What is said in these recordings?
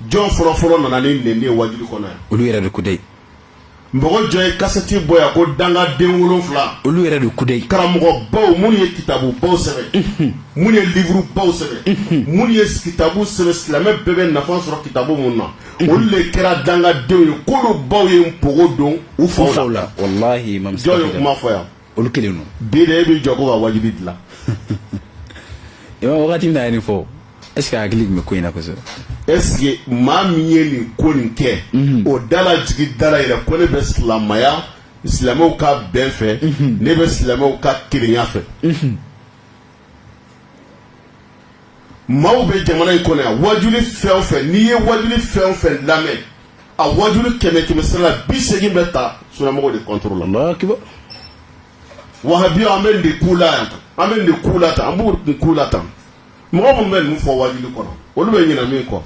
jɔn fɔlɔ fɔlɔ nana ni nin ye wajuli kɔnɔ yan olu yɛrɛ de kudayi mɔgɔ jɔn ye kasɛti bɔ yan ko dangaden wolonfila olu yɛrɛ de kudayi karamɔgɔbaw minnu ye kitabubaw sɛbɛn minnu ye livurubaw sɛbɛn minnu ye kitabu sɛbɛn silamɛ bɛɛ bɛ nafa sɔrɔ kitabu minnu na olu de kɛra dangadenw ye k'olu baw ye npogo don u faw la jɔn ye kuma fɔ yan olu kelen don bi de e b'i jɔ ko ka wajibi dilan imam wagati min na ye nin fɔ est ce que a hakili tun bɛ ko in na kosɛbɛ est ce que maa min ye nin ko nin kɛ mhm. o dala jigi dala yɛrɛ ko ne bɛ silamaya silamɛw ka bɛn fɛ mhm. ne bɛ silamɛw ka kelenya fɛ mhm. maaw bɛ jamana in kɔnɔ yan wajuli fɛn o fɛn n'i ye wajuli fɛn o fɛn lamɛn a wajuli kɛmɛ kɛmɛ sira la bi segin bɛ taa sunamɔgɔw de contre la wahabi an bɛ nin k'u la yan an bɛ nin k'u la tan an b'u nin k'u la tan mɔgɔ minnu bɛ ninnu fɔ wajuli kɔnɔ olu bɛ ɲinɛ min kɔ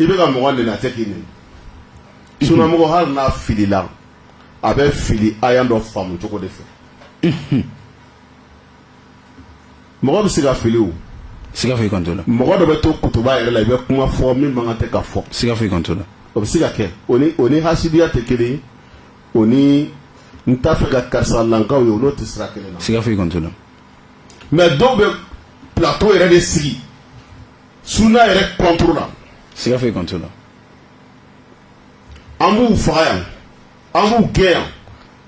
i bɛ ka mɔgɔ neni a tɛ k'i neni sunamɔgɔ hali n'a filila a bɛ fili aya dɔ faamu cogo de fɛ mɔgɔ bɛ se ka fili o siga foyi kan t'o la mɔgɔ dɔ bɛ to kutuba yɛrɛ la i bɛ kuma fɔ min man kan tɛ ka fɔ siga foyi kan t'o la o bɛ se ka kɛ o ni hasidiya tɛ kelen ye o ni n t'a fɛ ka karisalakaw ye o n'o tɛ sira kelen na siga foyi kan t'o la mais dɔw bɛ plateau yɛrɛ de sigi sunna yɛrɛ contre la siga foyi kan t'o la an b'u faga yan an b'u gɛn yan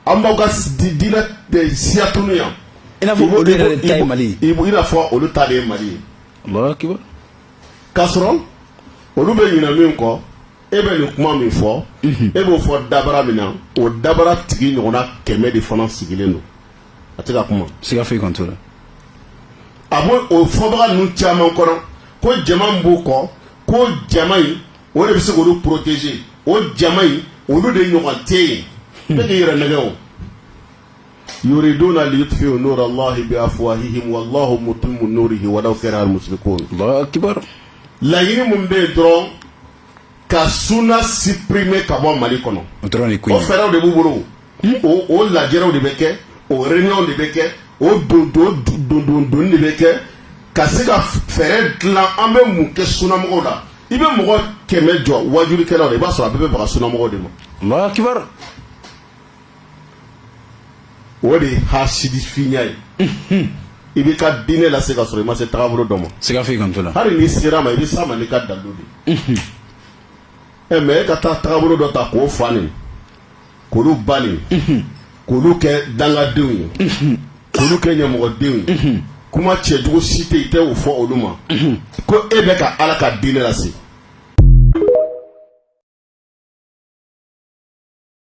an b'aw ka diinɛ siya tunu yan i n'a fɔ olu yɛrɛ de ta ye mali ye i n'a fɔ olu ta de ye mali ye alahu akibar k'a sɔrɔ olu bɛ ɲinɛ min kɔ e bɛ nin kuma min fɔ mhm. e b'o fɔ dabara min na o dabara tigi ɲɔgɔnna kɛmɛ de fana sigilen don a tɛ ka kuma siga foyi kan t'o la a b'o o fɔbaga ninnu caman kɔnɔ ko jama min b'u kɔ ko jama in o de bɛ se k'olu protéger o jama in olu de ɲɔgɔn tɛ yen e bɛ k'i yɛrɛ nɛgɛn o yuriduna liyutfi'u nura allahi bi afwahihim wallahu mutimmu nurihi walaw kariha al-mushrikun alahu akibar laɲini min bɛ yen dɔrɔn ka suna supprimer ka bɔ mali kɔnɔ o dɔrɔn fɛɛrɛw de b'u bolo o lajɛrɛw de bɛ kɛ o réunion de bɛ kɛ o donni de bɛ kɛ ka se ka fɛɛrɛ dilan an bɛ mun kɛ sunamɔgɔw la i bɛ mɔgɔ kɛmɛ jɔ wajulikɛlaw la i b'a sɔrɔ a bɛɛ bɛ baga sunamɔgɔw de ma alahu akibar o de ye hasidifinya ye i b'i ka diinɛ lase k'a sɔrɔ i ma se tagabolo dɔ ma siga foyi kan t'o la hali n'i sera a ma i bɛ s'a ma n'i ka dalu de ye ɛ mais e ka taa tagabolo dɔ ta k'o fa nin k'olu ba neni k'olu kɛ dangadenw ye k'olu kɛ ɲamɔgɔdenw ye kuma cɛjugu si tɛ yen i tɛ o fɔ olu ma ko e bɛ ka ala ka diinɛ lase